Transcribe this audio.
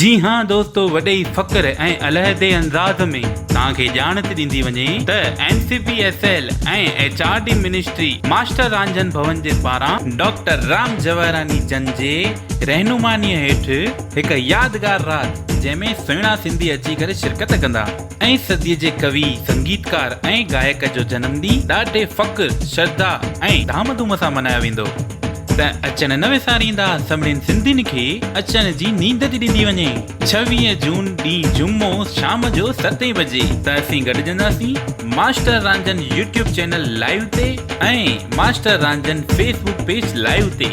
جي ها دوستو وڏي فخر ۽ علحدي انداز ۾ توهان کي ڄاڻت ڏيندي وڃي ته N C P S L ۽ H R D ministry master Ranjhan Bhoon جي پاران ڊاڪٽر رام جواهراني جن جي رهنماني هيٺ هڪ يادگار رات جنهن ۾ سهڻا سنڌي اچي ڪري شرڪت ڪندا. اين صديء جي ڪوي، سنگيتڪار ۽ گائڪ جو جنم ڏينهن ڏاڍي فخر، شرڌا ۽ ڌام ڌوم سان ملهايو ويندو. ته اچڻ نه وساريندا سمڙين سنڌين کي اچڻ جي نينڊ ٿي ڏني وڃي. ڇويهه جون ڏينهن جمعو شام جو ستين بجي ته اسين گڏجنداسين master Ranjhan YouTube channel live تي ۽ master Ranjhan Facebook page live تي.